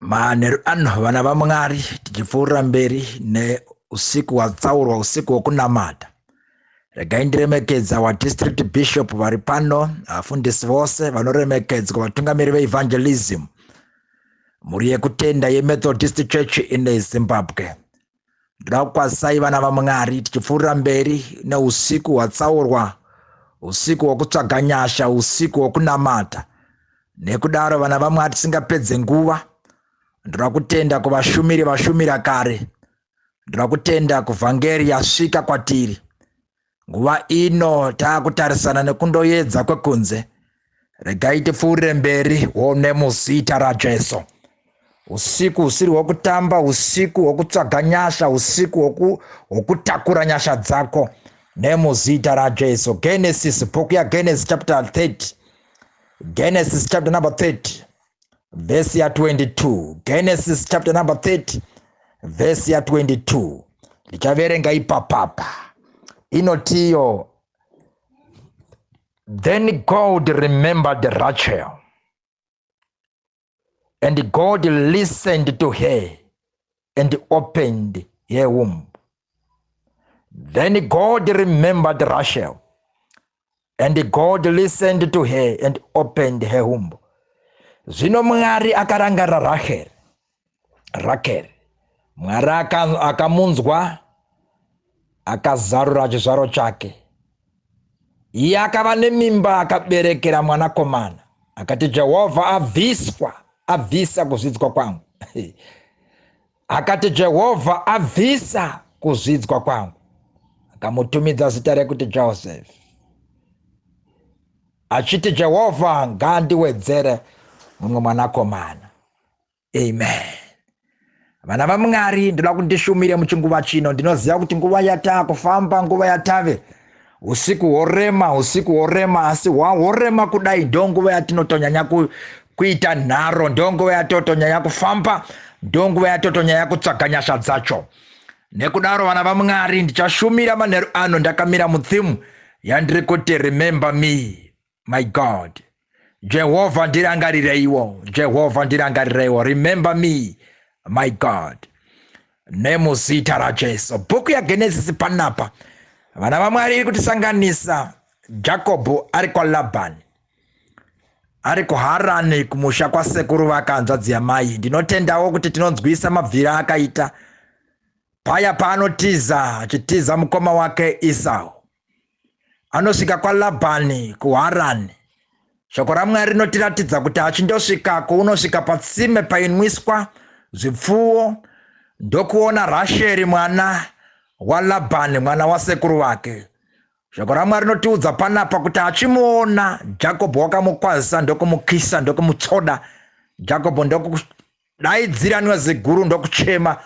manheru ano vana vamwari tichipfuurira mberi neusiku hwatsaurwa usiku hwokunamata regai ndiremekedza wadistrict bishop vari pano vafundisi vose vanoremekedzwa vatungamiri veevangelism mhuri yekutenda yemethodist church in zimbabwe ndoda kukwazisai vana vamwari tichipfuurira mberi neusiku hwatsaurwa usiku hwokutsvaga nyasha usiku hwokunamata nekudaro vana vamwari tisingapedze nguva ndoda kutenda kuvashumiri vashumira kare ndoda kutenda kuvhangeri yasvika kwatiri nguva ino taakutarisana nekundoyedza kwekunze regai tipfuurire mberi wone muzita rajesu usiku usiri hwokutamba usiku hwokutsvaga nyasha usiku hwokutakura nyasha dzako nemuzita rajesu genesis bhuku yagenesis chapter 30 genesis chapter number 30 vhesi ya 22 genesis chapter number 30 vhesi ya 22 ndichaverenga ipapapa inotiyo then god remembered rachel and god listened to her and opened her womb then god remembered rachel and God listened to her and opened her womb. Zvino Mwari akarangarira Rachel. Rachel. Mwari akamunzwa akazarura chizvaro chake. Iye akava nemimba akaberekera mwanakomana akati Jehovha abviswa abvisa kuzvidzwa kwangu. Akati, Jehovha abvisa kuzvidzwa kwangu. Akamutumidza zita rekuti Joseph, achiti, Jehovha ngaandiwedzere mumwe mwanakomana. Amen. Vana vaMwari, ndoda kuti ndishumire muchinguva chino. Ndinoziva kuti nguva yataa kufamba, nguva yatave Usiku hworema, usiku hworema, asi hwahworema kudai ndonguva yatinotonyanya ku, kuita nharo, ndonguva yatotonyanya kufamba, ndonguva yatotonyanya kutsvaga nyasha dzacho. Nekudaro vana vaMwari, ndichashumira manheru ano ndakamira muthimu yandiri kuti remember me. my god jehovha ndirangarireiwo jehovha ndirangarireiwo remember me my god nemuzita rajesu bhuku yagenesisi panapa vana vamwari iri kutisanganisa jakobho ari kwalabhani ari kuharani kumusha kwasekuru vakanzvadzi yamai ndinotendawo kuti tinonzwisa mabvira akaita paya paanotiza achitiza mukoma wake isau anosvika kwalabhani kuharani shoko ramwari rinotiratidza kuti achindosvika kwounosvika patsime painwiswa zvipfuwo ndokuona rasheri mwana walabhani mwana wasekuru vake shoko ramwari rinotiudza panapa kuti achimuona jakobho wakamukwazisa ndokumukisa ndokumutsvoda jakobho Daidzira nwaziguru ndokuchema.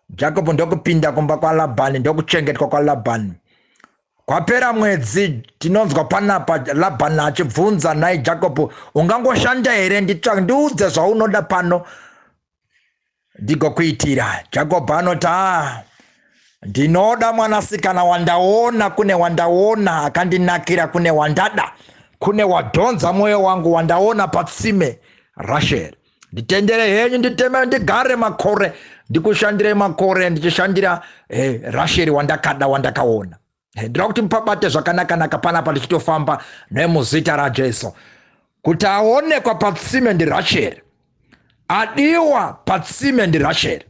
Jacob ndokupinda kumba kwaLabani ndokuchengetwa kwaLabani. Kwapera mwedzi tinonzwa panapa Labani achibvunza nhai Jacob ungangoshanda here nditsva ndiudze zvaunoda pano ndigokuitira. Jacob anoti ah ndinoda mwanasikana wandaona kune wandaona akandinakira kune wandada kune wadhonza mwoyo wangu wandaona patsime rasheri nditendere henyu nditeme ndigare makore ndikushandirei makore ndichishandira eh, rasheri wandakada wandakaona eh, ndira kuti mupabate zvakanakanaka panapa ndichitofamba nemuzita rajesu kuti aonekwa patsime ndirasheri adiwa patsime ndirasheri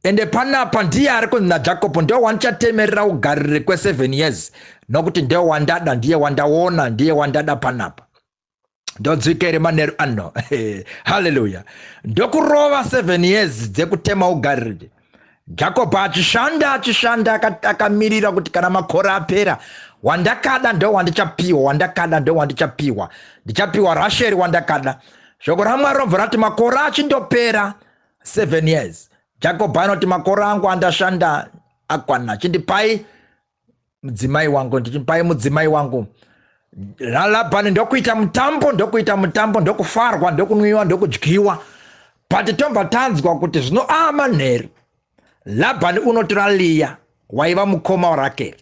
ende panapa ndiye ari kunzi najakobo ndiye wandichatemerera ugarire kweseven years nokuti ndiye wandada ndiye wandaona ndiye wandada panapa ndodzikere manheru ano haleluya ndokurova seven years dzekutema ugariri jacob achishanda achishanda akamirira kuti kana makore apera wandakada ndo wandichapiwa wandakada ndo wandichapiwa ndichapiwa rasheri wandakada shoko ramwari robva rati makore achindopera seven years jacob anoti makore angu andashanda akwana chindipai mudzimai wangu ndichimupai mudzimai wangu lalabhani ndokuita mutambo ndokuita mutambo ndokufarwa ndokunwiwa ndokudyiwa but tobva tanzwa kuti zvino aa ah, manheru labhani unotora liya waiva mukoma warakeri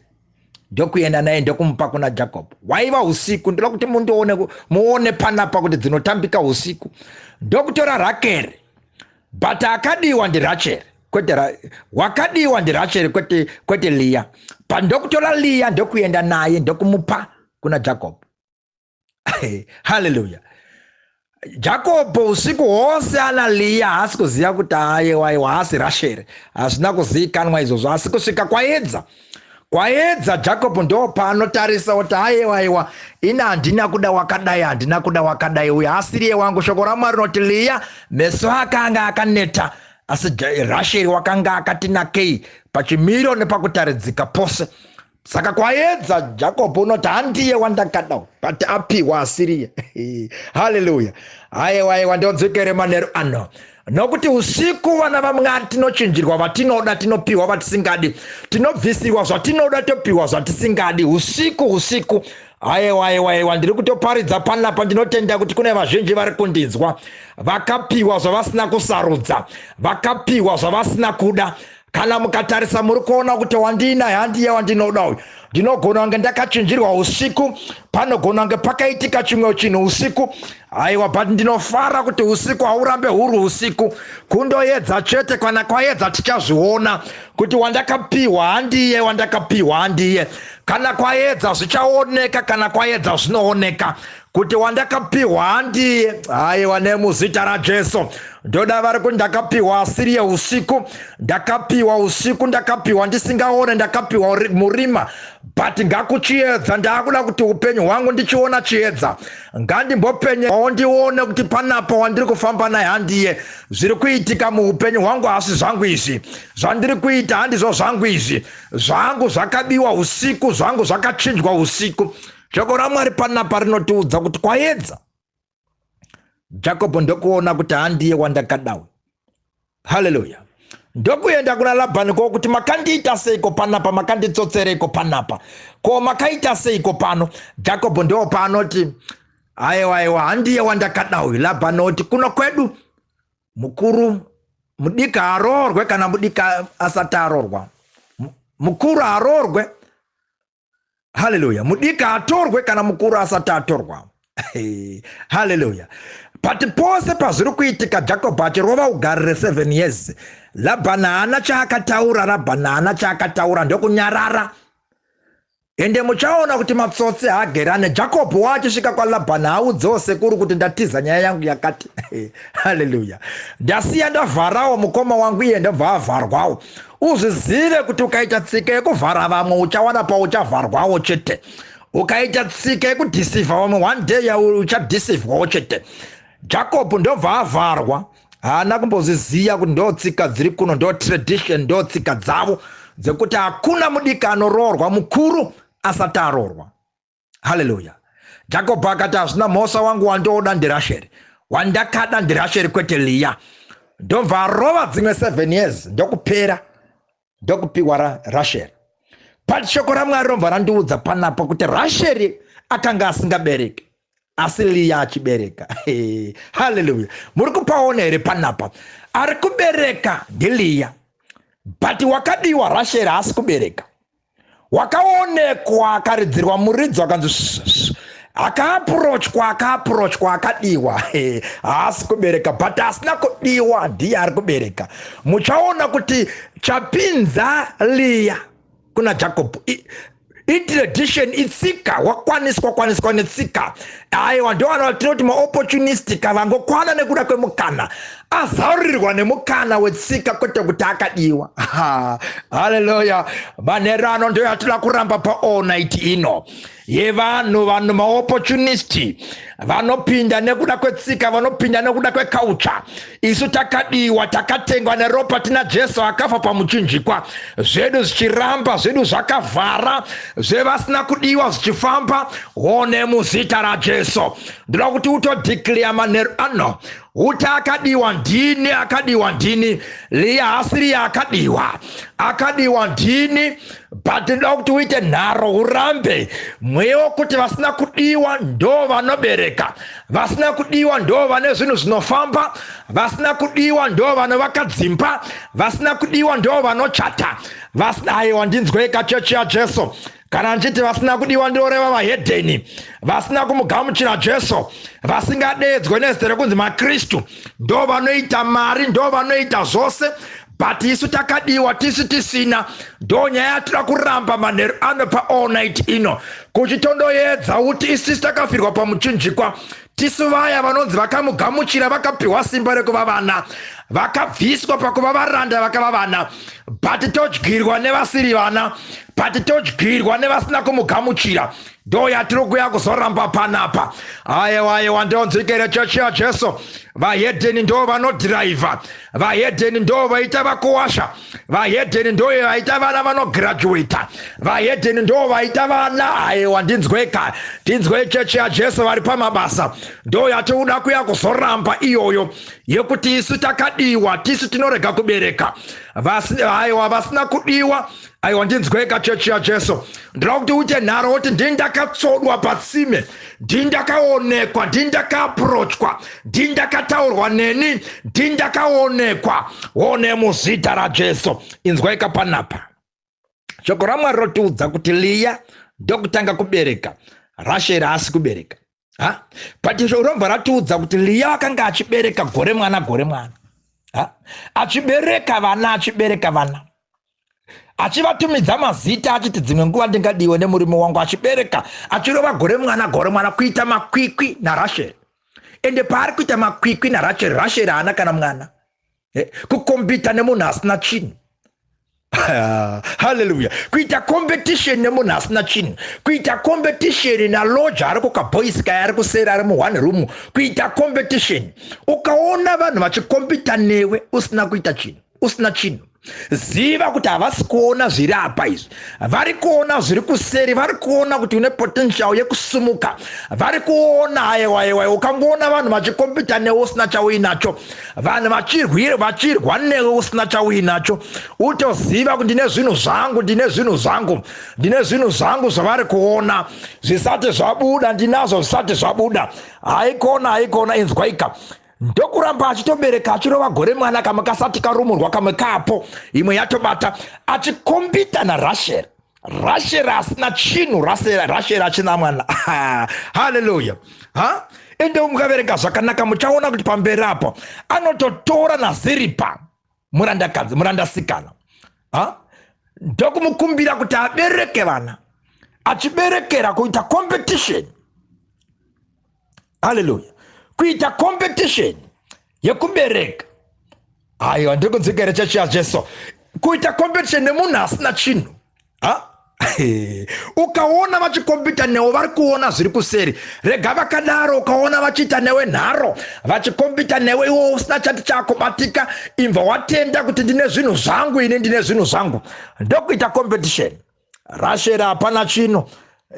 ndokuenda naye ndokumupa kuna jacob waiva usiku ndoda kuti mundione muone panapa kuti dzinotambika usiku ndokutora rakeri But akadiwa ndi Rachel kwete ra, wakadiwa ndi Rachel kwete kwete Leah. But ndokutora Leah ndokuenda naye ndokumupa kuna Jacob. Hallelujah. Jacob usiku hwose ana Leah haasi kuziva kuti ayewa ayewa haasi Rachel. Hazvina kuzikanwa izvozvo asi kusvika kwaedza Kwayedza Jacob ndoopaanotarisa oti ayewa ayewa ini handina kuda wakadai handina kuda wakadai uyu haasiriye wangu shoko ramwari rinoti liya meso akanga akaneta asi rasheri wakanga akati nakei pachimiro nepakutaridzika pose saka kwayedza jacob unoti handiye wandakada but apiwa asiriye haleluya ayewa ayewa ndodzokere manheru ano Nokuti usiku vana vaMwari tinochinjirwa vatinoda tinopiwa vatisingadi, tinobvisirwa zvatinoda topiwa zvatisingadi usiku usiku. Ayewa ayewa ayewa ndiri kutoparidza panapa ndinotenda kuti kune vazhinji vari kundinzwa vakapiwa zvavasina kusarudza vakapiwa zvavasina kuda Kana mukatarisa muri kuona kuti wandiina handiye wandinoda uyu. Ndinogona kunge ndakachinjirwa usiku, panogona kunge pakaitika chimwe chinhu usiku. Aiwa, but ndinofara kuti usiku haurambe huri usiku. Kundoyedza chete, kana kwayedza tichazviona kuti wandakapiwa handiye wandakapiwa handiye. Kana kwayedza zvichaoneka, kana kwayedza zvinooneka. kuti wandakapihwa handiye haiwa nemuzita rajesu ndoda vari kuti ndakapihwa asiri yeusiku ndakapihwa usiku ndakapihwa ndisingaone ndakapihwa murima but ngakuchiedza ndaakuda kuti upenyu hwangu ndichiona chiedza ngandimbopenye ondione kuti panapa wandiri kufamba naye handiye zviri kuitika muupenyu hwangu hasi zvangu izvi zvandiri kuita handizvo zvangu izvi zvangu zvakabiwa usiku zvangu zvakachinjwa usiku Shoko raMwari panapa rinotiudza kuti kwayedza. Jakobo ndokuona kuti handiye wandakadawo. Haleluya. Ndokuenda kuna Labhani ko kuti makandiita seiko panapa, makanditsotsereiko panapa, ko makaita seiko pano? Jakobo ndiwo paanoti aiwa aiwa, handiye wandakada uyu. Labhani oti kuno kwedu mukuru mudiki haroorwe kana mudiki asati aroorwa, mukuru haroorwe haleluya mudiki haatorwe kana mukuru asati atorwa haleluya but pose pazviri kuitika jacob achirova ugari reseven years labhani haana chaakataura rabhani haana chaakataura ndokunyarara ende muchaona kuti matsotsi haagerane jacob waachisvika kwalabhani haudzewo sekuru kuti ndatiza nyaya yangu yakati haleluya ndasiya ndavharawo mukoma wangu iye ndobva avharwawo Uzvizive kuti ukaita tsika yekuvhara vamwe uchawana pauchavharwawo chete. Ukaita tsika yekudhisivha vamwe one day yauri uchadhisivhwawo chete. Jacob ndobva avharwa haana kumbozviziva kuti ndo tsika dziri kuno ndo tradition ndo tsika dzavo dzekuti hakuna mudiki anoroorwa mukuru asati aroorwa. haleluya jacob akati hazvina mhosa wangu wandooda ndirasheri wandakada ndirasheri kwete liya ndobva arova dzimwe seven years ndokupera ndokupiwa ra, rasheri but shoko ramwari robva randiudza panapa kuti rasheri akanga asingabereki asi liya achibereka haleluya muri kupaona here panapa ari kubereka ndiliya but wakadiwa rasheri haasi kubereka wakaonekwa akaridzirwa muridzo akanzi akaapurochwa akaapurochwa akadiwa haasi kubereka but asina kudiwa ndiye ari kubereka muchaona kuti chapinza liya kuna jacob itradition itsika wakwaniswa kwaniswa netsika aiwa ndovanhu vatinoti maopportunistic vangokwana nekuda kwemukana azarurirwa nemukana wetsika kwete kuti akadiwa haleluya manheru ano ndo yatira kuramba paall night ino yevanhu vanhu maopportunisti vanopinda nekuda kwetsika vanopinda nekuda kwekautsva isu takadiwa takatengwa neropa tina jesu akafa pamuchinjikwa zvedu zvichiramba zvedu zvakavhara zvevasina kudiwa zvichifamba one muzita rajesu ndinoda kuti utodeclare manheru ano Uta akadiwa ndini akadiwa ndini Liya haasi Liya akadiwa akadiwa ndini but ndoda kuti uite nharo urambe mweya wokuti vasina kudiwa ndo vanobereka vasina kudiwa ndo vane zvinhu zvinofamba vasina kudiwa ndo vanovaka dzimba vasina kudiwa ndo vanochata vasina aiwa ndinzwei kachechi yajesu Kana ndichiti vasina kudiwa ndinoreva vahedheni vasina kumugamuchira Jesu, vasingadeedzwe nezita rekunzi maKristu. Ndo vanoita mari, ndo vanoita zvose but isu takadiwa tisu tisina. Ndo nyaya yatira kuramba manheru ano paall night ino. Kuchitondoyedza uti isisu takafirwa pamuchinjikwa. Tisu vaya vanonzi vakamugamuchira vakapihwa simba rekuva vana vakabviswa pakuva varanda vakava vana but todyirwa nevasiri vana but todyirwa nevasina kumugamuchira ndo yatiri kuya kuzoramba panapa ayewa ayewa ndonzwi kerechechi yajesu vahedheni ndo vanodhiraivha vahedheni ndo vaita vakuwasha vahedheni ndo vaita vana vanograduata vahedheni ndo vaita vana aiwa ndinzweka tinzwei chechi yajesu vari pamabasa ndo yatiuda kuya kuzoramba iyoyo yekuti isu takadiwa tisu tinorega kubereka aiwa vasina kudiwa Aiwa ndinzweka chechi yaJesu. Ndinoda kuti uite nharo woti ndini ndakatsvodwa patsime, ndini ndakaonekwa, ndini ndakaapurochwa, ndini ndakataurwa neni, ndini ndakaonekwa. One muzita raJesu. Inzwaika panapa. Shoko raMwari rotiudza kuti Liya ndokutanga kubereka, Rasheri haasi kubereka. ha but izvo robva ratiudza kuti liya wakanga achibereka gore mwana gore mwana ha achibereka vana achibereka vana achivatumidza mazita achiti dzimwe nguva ndingadiwe nemurume wangu achibereka achirova gore mwana gore mwana kuita makwikwi narasheri ende paari kuita makwikwi narasheri rasheri haana kana mwana eh, kukombita nemunhu asina chinhu haleluya kuita competition nemunhu asina chinhu kuita competition naloja ari kukaboys kaya ari kuseri ari muone room kuita competition ukaona vanhu vachikompita newe usina kuita chinhu usina chinhu ziva kuti havasi kuona zviri apa izvi vari kuona zviri kuseri vari kuona kuti une potential yekusumuka vari kuona ayewayewa ukangoona vanhu vachikompita newe usina chauinacho Vanhu vachirwira vachirwa newe usina chauinacho utoziva kuti ndine zvinhu zvangu ndine zvinhu zvangu ndine zvinhu zvangu zvavari kuona zvisati zvabuda ndinazvo zvisati zvabuda haikona haikona inzwaika ndokuramba achitobereka achirova gore mwana kamwe kasati karumurwa kamwe kapo imwe yatobata achikombita narasheri Rachel asina chinhu Rachel Rachel achina mwana ah, hallelujah ha ende mukaverenga zvakanaka muchaona kuti pamberi apa anototora naziripa murandakadzi murandasikana ha ndokumukumbira kuti abereke vana achiberekera kuita competition haleluya kuita competition yekubereka aiwa ndiri kunzwika here chechi yajesu kuita competition nemunhu asina chinhu ha ukaona vachikombita newe vari kuona zviri kuseri rega vakadaro ukaona vachiita newe nharo vachikombita newe iwo usina chati chakubatika imva watenda kuti ndine zvinhu zvangu ini ndine zvinhu zvangu ndokuita competition Rashel hapana chinhu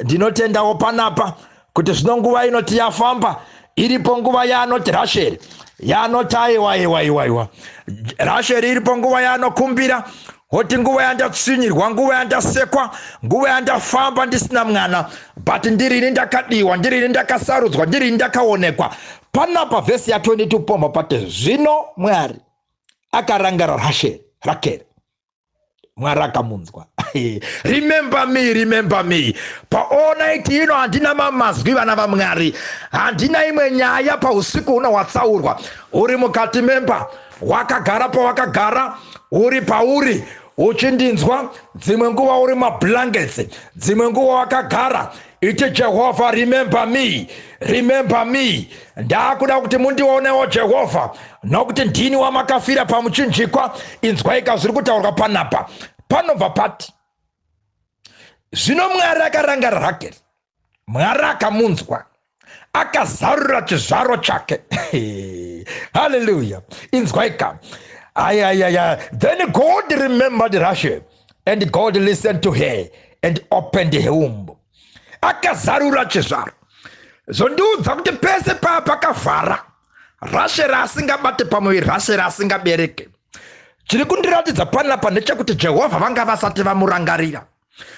ndinotendawo panapa kuti zvino nguva inoti yafamba iripo nguva yaanoti rasheri yaanoti aiwa iwa iwa iwa rasheri iripo nguva yaanokumbira hoti nguva yandatsinyirwa nguva yandasekwa nguva yandafamba ndisina mwana but ndirini ndakadiwa ndirini ndakasarudzwa ndirini ndakaonekwa panapa vhesi ya 22 pomba pate zvino mwari akarangara rasheri rakeri mwari akamunzwa remember me remember me paall night ino handina mamazwi vana vamwari handina imwe nyaya pausiku huno hwatsaurwa uri mukati memba wakagara pawakagara uri pauri uchindinzwa dzimwe nguva uri mablankets dzimwe nguva wakagara Iti Jehovha, remember me, remember me. Ndakuda kuti mundionewo Jehovha, nokuti ndini wamakafira pamuchinjikwa. Inzwaika zviri kutaurwa panapa. Panobva pati, zvino Mwari akaranga Rakeri, Mwari akamunzwa, akazarura chizvaro chake. Haleluya! Inzwaika. Ayayaya, then God remembered Rashel. and god listened to her and opened her womb akazarura chizvaro zvondiudza kuti pese paa pakavhara rashe raasingabate pamuviri rashe raasingabereke chiri kundiratidza panapa ndechekuti jehovha vanga vasati vamurangarira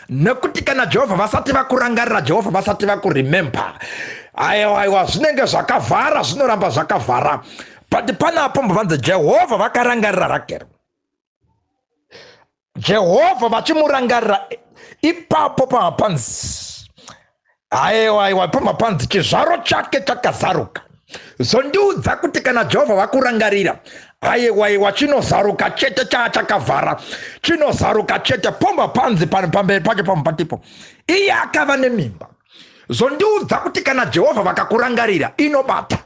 nekuti kana jehovha vasati vakurangarira jehovha vasati vakuremember aiwa aiwa zvinenge zvakavhara zvinoramba zvakavhara but panapo mbo vanzi jehovha vakarangarira rakero jehovha vachimurangarira ipapo pamapanzi aiwa aiwa pamapanzi chizvaro chake chakazaruka zvondiudza kuti kana jehovha vakurangarira aiwaiwa chinozaruka chete chaa chakavhara chinozaruka chete pomba panzi pamberi pacho pamwe patipo iye akava nemimba zvondiudza kuti kana jehovha vakakurangarira inobata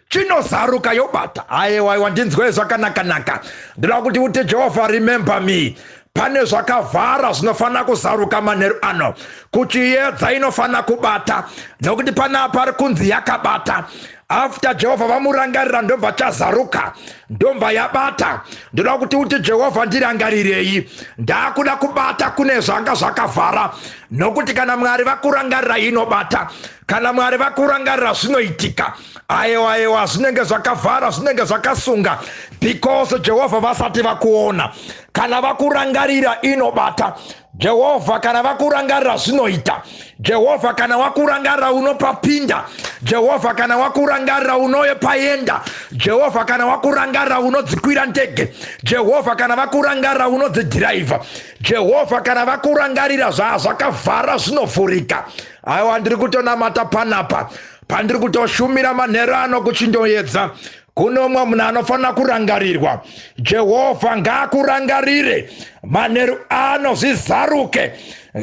chinozaruka yobata aiwaiwa ndinzwei zvakanakanaka ndinoda kuti uti jehovha remember me pane zvakavhara zvinofanira kuzaruka manheru ano kuchiyedza inofanira kubata nekuti panaa pari kunzi yakabata after jehovha vamurangarira ndobva chazaruka ndobva yabata ndoda kuti uti jehovha ndirangarirei ndaakuda kubata kune zvanga zvakavhara nokuti kana mwari vakurangarira inobata Kana Mwari vakurangarira zvinoitika. Aewa aewa zvinenge zvakavhara zvinenge zvakasunga because Jehovha vasati vakuona. Kana vakurangarira inobata. Jehovha kana vakurangarira zvinoita. Jehovha kana wakurangarira unopapinda. Jehovha kana wakurangarira unoye paenda. Jehovha kana wakurangarira unodzikwira ndege. Jehovha kana vakurangarira unodzidhiraivha. Jehovha kana vakurangarira zvaa zvakavhara zvinovhurika. Aiwa, ndiri kutonamata panapa, pandiri kutoshumira manheru ano kuchindoedza kuno umwe munhu anofanira kurangarirwa jehovha ngaakurangarire manheru ano zvizaruke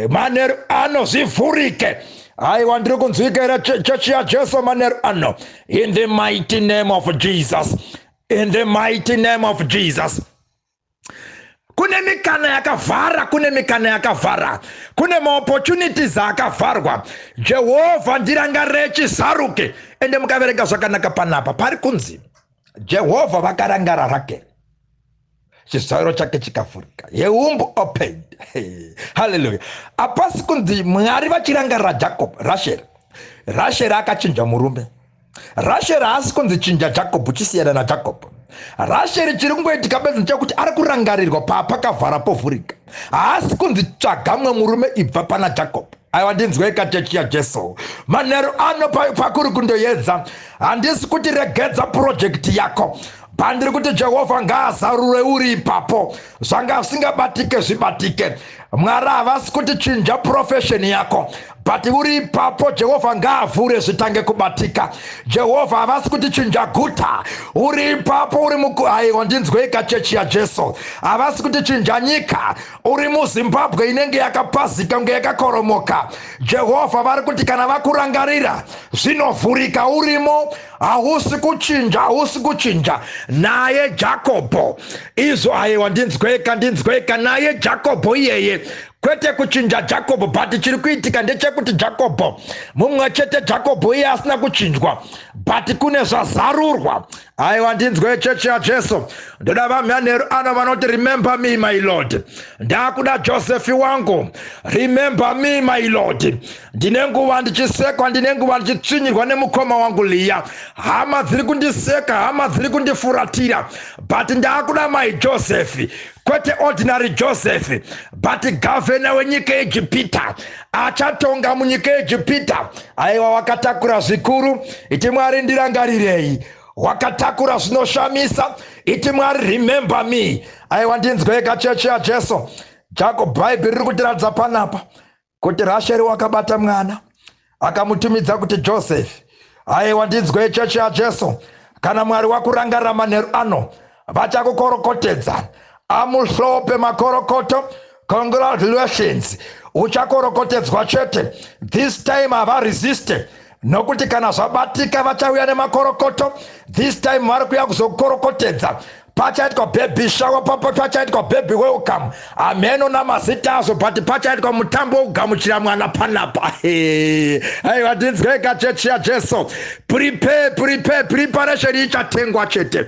manheru ano zvivhurike aiwa ndiri kunzwika here chechi yajesu manheru ano in the mighty name of jesus in the mighty name of jesus kune mikana yakavhara kune mikana yakavhara kune maopportunities akavharwa jehovha ndirangarire chisaruke ende mukaverenga zvakanaka panapa pari kunzi jehovha vakarangara rakeri chizairo chake chikavhurika yeumb opened haleluya apasi kunzi mwari vachirangarira jacob rasheri rasheri akachinja murume Rasheri haasi kunzi chinja Jacob chisiyana naJacob. Rasheri chiri kungoitika bedzi ndechekuti ari kurangarirwa paapakavhara povhurika. Haasi kunzi tsvaga mwe murume ibva pana Jacob. Aiwa ndinzwei kachechi yaJesu. Manheru ano pakuri kundoyedza. Handisi kuti regedza purojekiti yako. Bba ndiri kuti Jehovha ngaazarure uri ipapo zvanga zvisingabatike zvibatike Mwari havasi kuti chinja profession yako but uri ipapo Jehovha ngaavhure zvitange kubatika Jehovha havasi kuti chinja guta uri ipapo uri muku aiwa ndinzweika chechi yaJesu havasi kuti chinja nyika uri muZimbabwe inenge yakapazika kunge yakakoromoka Jehovha vari kuti kana vakurangarira zvinovhurika urimo Hausi kuchinja, hausi kuchinja. Naye Jakobho. Izvo ayewa ndinzweka, ndinzweka. Naye Jakobho iyeye. Kwete kuchinja Jakobho, but chiri kuitika ndechekuti Jakobho. Mumwe chete Jakobho iye asina kuchinjwa. But kune zvazarurwa. Ayewa ndinzwe chechi yaJesu. Ndoda vamyanheru ano vanoti remember me my Lord. Ndakuda Josefi wangu. Remember me my Lord. Ndine nguva ndichisekwa, ndine nguva ndichitsvinyirwa nemukoma wangu Liya. Hama dziri kundiseka, hama dziri kundifuratira, but ndaakuda mai Joseph, kwete ordinary Joseph, but gavhena wenyika yeEgipita, achatonga munyika yeEgipita. Aiwa, wakatakura zvikuru, iti Mwari ndirangarirei wakatakura zvinoshamisa iti mwari remember me aiwa ndinzwei kachechi yajesu jako bhaibheri riri kutiratidza panapa kuti rasheri wakabata mwana akamutumidza kuti joseph aiwa ndinzwa yechechi yajesu kana mwari wakurangarira manheru ano vachakukorokotedza amuhlope makorokoto congratulations uchakorokotedzwa chete this time havaresiste nokuti kana zvabatika vachauya nemakorokoto this time vari kuya kuzokorokotedza pachaitwa baby shower papo pachaitwa baby welcome hameno namazita azvo but pachaitwa mutambo wokugamuchira mwana panapa aiwa ndinzwei kachechi yajesu prepare prepare preparation ichatengwa chete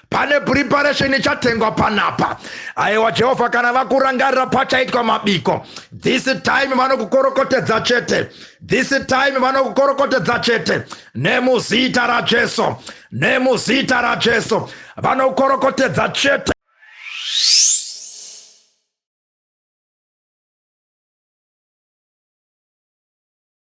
pane preparation ichatengwa panapa aiwa jehovha kana vakurangarira pachaitwa mabiko this time vanokukorokotedza chete This time vanokorokotedza chete nemuzita raJesu, nemuzita raJesu vanokorokotedza chete.